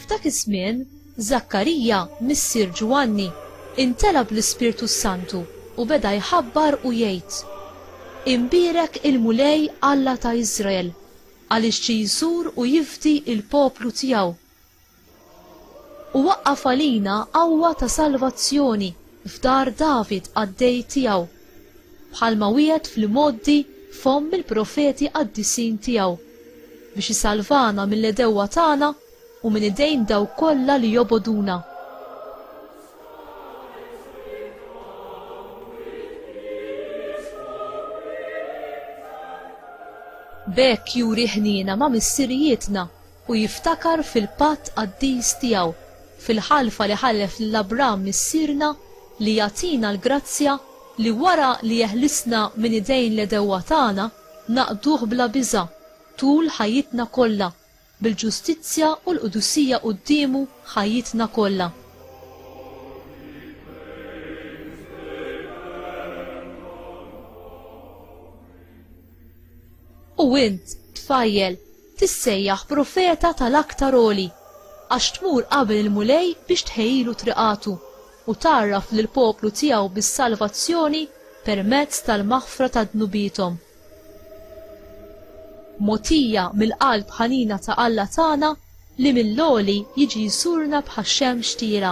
F'dak iż-żmien, Żakkarija, missier Ġwanni, intela bl-Ispirtu s-Santu u beda jħabbar u jgħid, Imbierek il-Mulej Alla ta' Iżrael, għaliex ġie jżur u jifdi l-poplu tiegħu. U waqqaf għalina qawwa ta' salvazzjoni f'dar David qaddej tiegħu, bħalma wiegħed fl-imgħoddi f'fomm il-profeti qaddisin tiegħu, biex isalvana mill-għedewwa tagħna u minn idejn dawk kollha li jobogħduna. B'hekk juri ħniena ma' missirijietna u jiftakar fil-patt qaddis tiegħu, fil-ħalfa li ħallef lil Abram missierna li jagħtina l-grazzja li wara li jeħlisna minn idejn l-għedewwa tagħna, naqduh bla biża' tul ħajjitna kollha, bil-ġustizzja u l-qdusija quddiemu ħajjitna kollha. U int, tfajjel, tissejjaħ profeta tal-Aktar Għoli, għax tmur qabel il-Mulej biex tħejjilu triqatu, u tgħarraf lill-poplu tiegħu bis-salvazzjoni permezz tal-maħfra ta' dnubiethom. Mogħtija mill-qalb ħanina ta' Alla tagħna li mill-għoli jiġi jżurna bħax-xemx tira.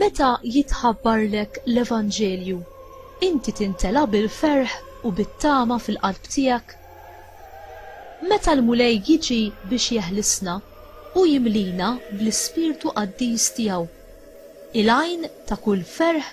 Meta jitħabbarlek l-Evanġelju, inti tintela' bil-ferħ u bit-tama fil-qalb tiegħek? Meta l-Mulej jiġi biex jeħlisna, hu jimlina bl-ispirtu qaddis tiegħu, il-għajn ta' kull ferħ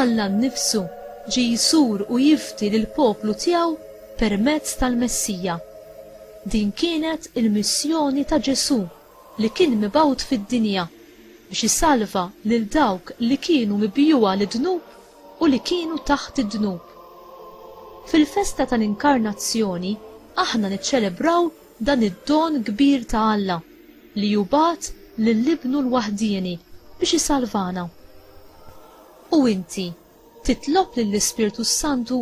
Alla nnifsu ġie jsur u jifdi lill-poplu tiegħu permezz tal-Messija. Din kienet il-missjoni ta' Ġesù li kien mibgħut fid-dinja biex isalva lil dawk li kienu mibjugħa lid-dnub u li kienu taħt id-dnub. Fil-festa tal-Inkarnazzjoni aħna niċċelebraw dan id-don kbir ta' Alla li hu bagħat lil Ibnu l-waħdieni biex isalvana. U inti titlob lill-Ispirtu s-Santu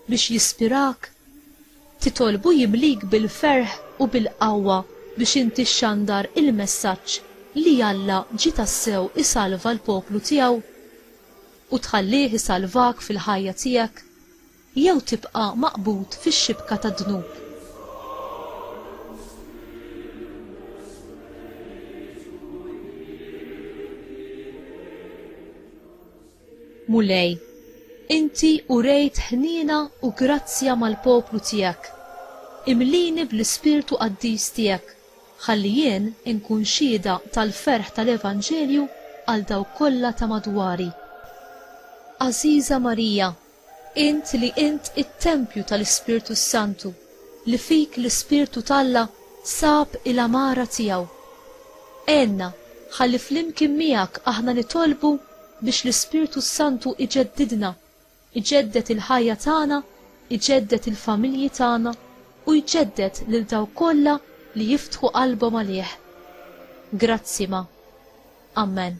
biex jispirak? Titolbu jimlik bil-ferħ u bil-qawwa biex inti xxandar il-messaġġ li Alla ġie tassew isalva l-poplu tiegħu? U tħallih isalvak fil-ħajja tiegħek? Jew tibqa' maqbud fix-xibka tad-dnub. Mulej, Inti urejt ħniena u grazzja mal-poplu tiegħek. Imlini bl-ispirtu qaddis tiegħek, ħalli jien inkun xhieda tal-ferħ tal-evanġelju għal dawk kollha ta' madwari. Għażiża Marija, Int li int it-tempju tal-Ispirtu s-Santu, li fik l-Ispirtu t'Alla sab il-għamara tiegħu. Għenna ħalli flimkien miegħek aħna nitolbu biex l-Ispirtu s-Santu iġeddidna, iġedded il-ħajja tagħna, iġedded il-familji tagħna u jġedded lil dawk kollha li jiftħu qalbhom għalih. Grazzi ma. Amen.